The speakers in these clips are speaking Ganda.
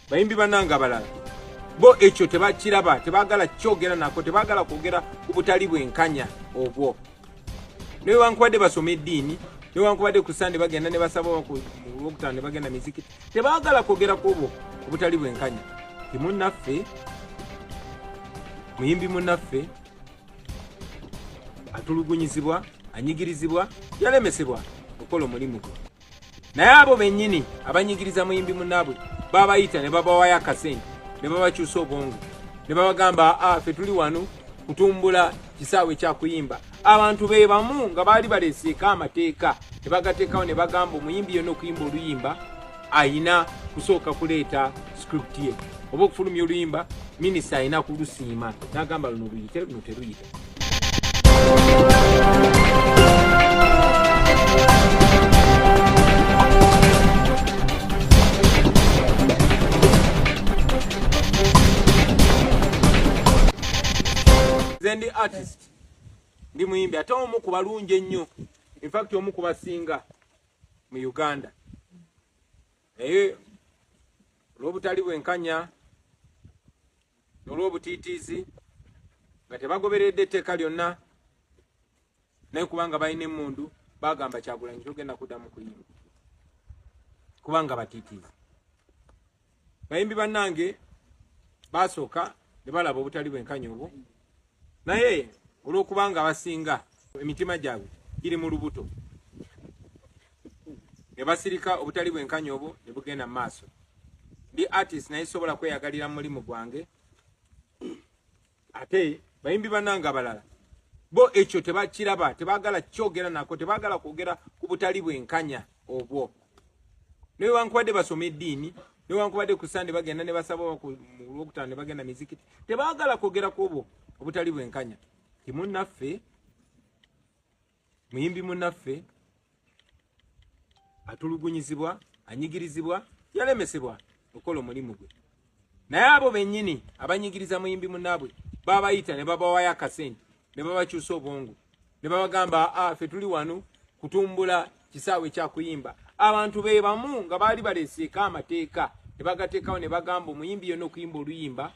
bayimbi banange abalala bo ekyo tebakiraba tebagala kyogera nako tebagala kwogera ku butali bwenkanya obwo newankubadde basoma eddiini newankubadde ku sande bagenda nebasaba okutano nebagenda miziki tebagala kwogera ku obwo obutali bwenkanya timunaffe muyimbi munaffe atulugunyizibwa anyigirizibwa yalemesebwa okukola omulimu gwe naye abo bennyini abanyigiriza muyimbi munaabwe babayita ne babawayo akasente ne babakyusa obwongo ne babagamba ah, fe tuli wano kutumbula kisaawe kyakuyimba abantu be bamu nga baali baleseeko amateeka ne bagateekawo ne bagamba omuyimbi yona okuyimba oluyimba ayina kusooka kuleeta script ye oba okufulumya oluyimba minisita ayina kulusiima nagamba luno luyite luno teruyite ndi artist ndi muyimbi ate omu ku balungi ennyo infact omu ku basinga mu uganda naye olw'obutali bwenkanya olw'obutiitiizi nga tebagoberedde etteeka lyonna naye kubanga balina emmundu bagamba kyagulanyi togenda kuddamu kuyimba kubanga batiitiizi bayimbi bannange basooka ne balaba obutali bwenkanya obwo naye olwokuba nga abasinga emitima gyabwe giri mu lubuto ne basirika obutali bwenkanya obwo ne bugenda mu maaso ndi artist naye sobola kweyagalira mu mulimu gwange ate bayimbi bananga abalala bo ekyo tebakiraba tebagala kyogera nako tebagala kwogera ku butali bwenkanya obwo newankubadde basoma eddiini newankubadde ku sande bagenda ne basaba olwokutaano ne bagenda mizikiti tebaagala kwogera ku obwo obutali bwenkanya timunnaffe muyimbi munnaffe atulugunyizibwa anyigirizibwa yalemesebwa okukola omulimu gwe naye abo benyini abanyigiriza muyimbi munabwe babayita ne babawayo akasente ne babakyusa obwongo ne babagamba ah, fe tuli wano kutumbula kisaawe kyakuyimba abantu be bamu nga baali baleseeko amateeka ne bagateekawo ne bagamba omuyimbi yona okuyimba oluyimba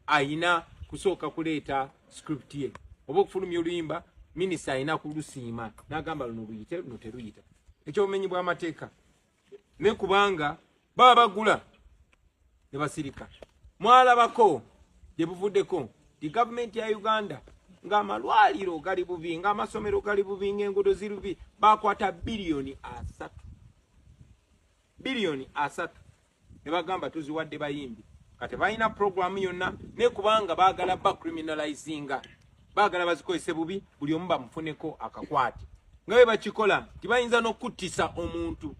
ayina kusooka kuleeta script ye oba okufulumya oluyimba minisita ayina kulusiima nagamba luno luyite luno teruyita ekyobumenyi bwamateeka ne kubanga baba bagula ne basirika mwalabako gye buvuddeko the government ya uganda ng'amalwaliro gali bubi ng'amasomero gali bubi ng'enguudo ziri bubi bakwata biliyoni asatu biliyoni asatu ne bagamba tuziwadde bayimbi kati balina puroguramu yonna ne kubanga baagala bacriminalizinga bagala bazikozese bubi buli omu bamufuneko akakwate nga bwe bakikola nti bayinza n'okuttisa omuntu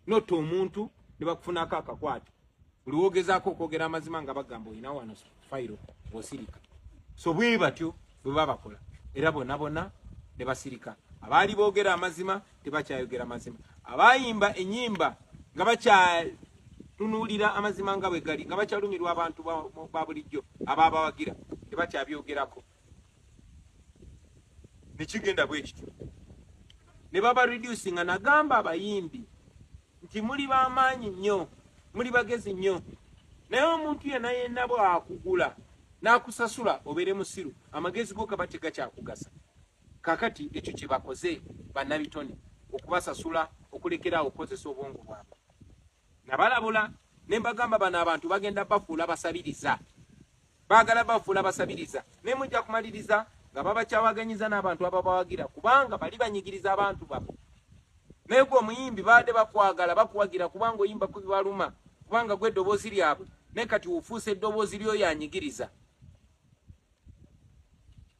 nota omuntu ne bakufunako akakwate buli wogezaako okwogera amazima nga bagamba olina wano fayiro osirika so bwe batyo bwe babakola era bona bona ne basirika abaali boogera amazima tebakyayogera mazima abayimba enyimba nga bakyatunulira amazima nga bwe gali nga bakyalumirwa abantu ba bulijjo ababawagira tebakyabyogerako nekigenda bwe kityo ne baba reduci nga nagamba abayimbi nti muli bamaanyi nnyo muli bagezi nnyo naye omuntu yena yena bwakugula nakusasula obeere musiru amagezi go kaba tegakyakugasa Kakati ekyo kyebakoze banabitone okubasasula okulekera awo okukozesa obwongo bwabwe. Nabalabula ne mbagamba bano abantu bagenda bafuula basabiriza, baagala bafuula basabiriza ne mujja kumaliriza nga babakyawaganyiza n'abantu ababawagira kubanga bali banyigiriza abantu babo. Naye gwe omuyimbi baadde bakwagala bakuwagira kubanga oyimba ku bibaluma kubanga gwe eddoboozi lyabwe naye kati ofuuse eddoboozi ly'oyo anyigiriza.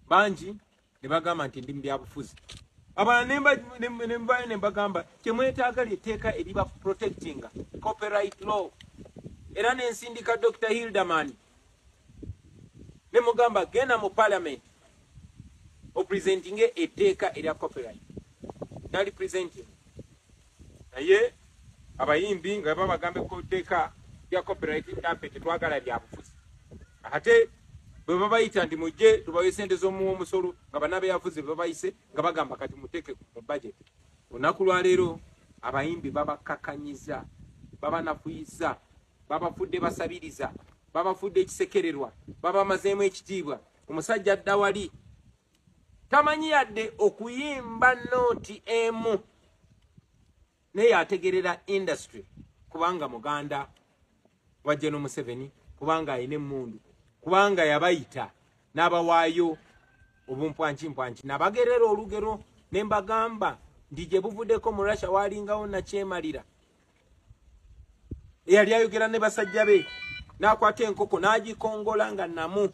bangi ne bagamba nti ndi mu byabufuzi abalala nembayo ne mbagamba kyemwetaaga lyetteeka eriba protectinga copyright law era nensindika dr hilderman ne mugamba genda mu parliament opresentinge etteeka erya copyright nali presenting naye abayimbi nga babagambe ku tteeka lya copyright ntampe tetwagala byabufuzi ate bwe babayita nti mujje tubawe sente z'omuwa omusolo nga banabeyavuze bebabayise nga bagamba kati muteeke mu budget olunaku lwaleero abayimbi babakakanyiza babanafuyiza babafudde basabiriza babafudde ekisekererwa babamazeemu ekitiibwa omusajja adda wali tamanyi yadde okuyimba nooti emu naye yategerera industry kubanga muganda wa General Museveni kubanga ayine mundu kubanga yabayita nabawayo obumpwanchi mpwanchi nabagerera olugero nembagamba ndije buvudeko mu Russia walingawo na chemalira eyali ayogera ne basajja be nakwata enkoko nagikongola nga namu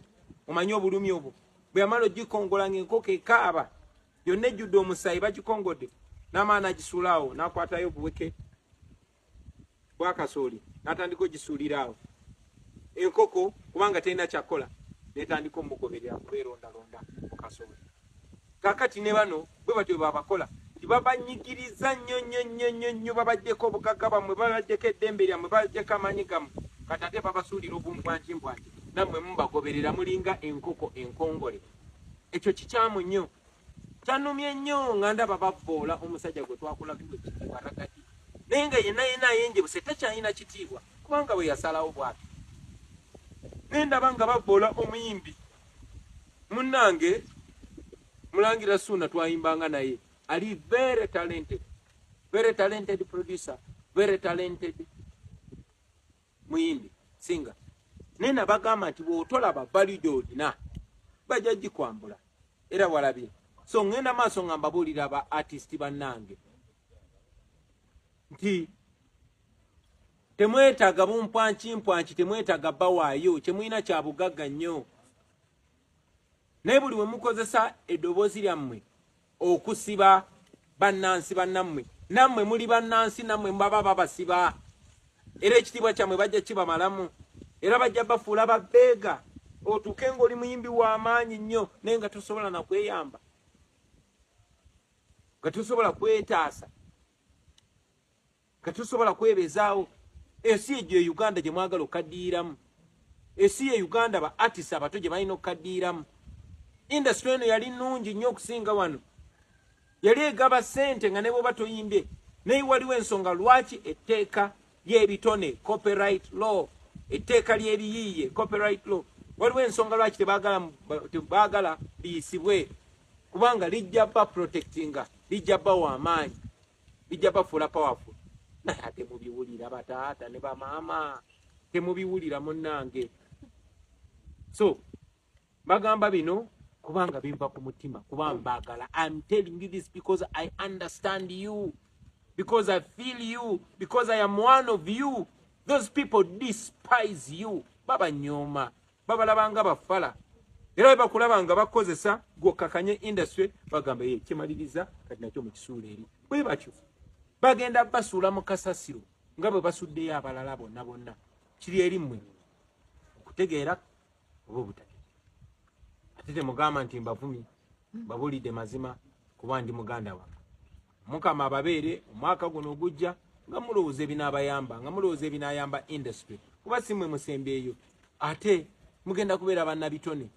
omanyi obulumi obwo bwe yamalo gikongola nga enkoko ekaaba yonna ejjudde omusaayi bagikongodde n'amaana agisuula awo n'akwatayo obuweke bwakasooli n'atandika ogisuulira awo enkoko kubanga terina kyakukola netandika omugoberera kubeerondalonda mu kasooli kakati ne bano bwe batyo babakola nti babanyigiriza nnyo nnyo nnyo nnyo nnyo babaddeko obugagga bwammwe babaddeko eddembe lyammwe babaddeko amaanyi gammwe kati ate babasuulira obumbwanjimbwanji nammwe mubagoberera mulinga enkoko enkongole ekyo kikyamu nnyo kyanumye nnyo nga ndaba bavvoola omusajja gwe twakulabiwa ekitiibwa ragadi naye nga yenna yenna ayenjebuse takyalina kitiibwa kubanga bwe yasalawo bwati naye ndaba nga bavvoola omuyimbi munnange mulangira suuna twayimbanga naye ali very talented very talented producer very talented muyimbi singa naye nabagamba nti bwotolaba valide olina bajja gikwambula era walabye so ŋŋenda maaso nga mbabuulira ba artist bannange nti temwetaaga bumpwankimpwanki temwetaaga bawaayo kyemulina kyabugagga nnyo naye buli we mukozesa eddoboozi lyammwe okusiba bannansi bannammwe nammwe muli bannansi nammwe mubaba babasiba era ekitiibwa kyammwe bajja kibamalamu era bajja bafuula babbeega otuuke ng'oli muyimbi w'amaanyi nnyo naye nga tosobola na kweyamba nga tosobola kwetaasa tetusobola kwebezaawo ensi egyo e uganda gye mwagala okaddiiramu ensi ye uganda ba artist abato gye balina okukaddiiramu industry eno yali nnungi nnyo okusinga wano yali egaba ssente nga ne bwoba toyimbye naye waliwo ensonga lwaki etteeka ly'ebitone copyright law etteeka ly'ebiyiiye copyright law waliwo ensonga lwaki tebaagala liyisibwe kubanga lijja ba protectinga lijja bawa amaanyi bijja bafuula powerful naye ate mubiwulira bataata ne bamaama temubiwulira munnange so bagamba bino kubanga binva ku mutima kuba mbagala im telling you this because i understand you because i feel you because i am one of you those people despise you babanyooma babalaba nga bafala era bakulaba nga bakozesa gwokakanye industry bagamba ye kimaliriza kati nakyo mukisuula eri bwe batyo bagenda basuula mu kasasiro nga bwe basuddeyo abalala bonna bonna kiri eri mmwe okutegeera oba obutategeera ate temugamba nti mbavumi babulidde mazima kuba ndi muganda wange mukama ababeere omwaka guno ogujja nga mulowooza ebinaabayamba nga mulowooza ebinaayamba industry kuba si mwe musembyeyo ate mugenda kubeera bannabitone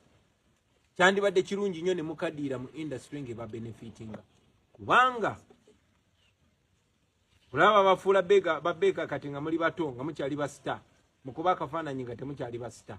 kyandibadde kirungi nnyo ne mukaddiira mu industry nga ebabenefitinga kubanga olaba bafuula babeeka kati nga muli bato nga mukyali basita mukuba akafaananyi nga temukyali basita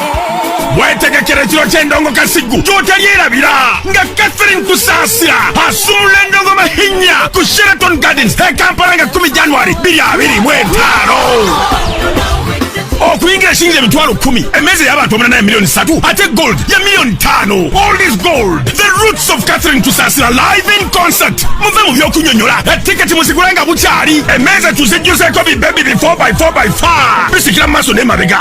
wetegekera ekiro ky'endongo kasiggu gy'otalyerabira nga catherine kusaasira asuula endongo mahinya ku sheraton gardens e kampala nga 1 january 225 okuyingira shilingi emitwalo kumi emmeeza y'abantu omunanaye miliyoni satu ate gold ya miliyoni ttaano all is gold the roots of catherine tusasira live in concert muve mu by'okunyonyola etiketi muzigula nga bukyali emmeeza tuzijjuzeeko bibebi bi 4 by 4 by 5 bisikira mu maaso n'emabega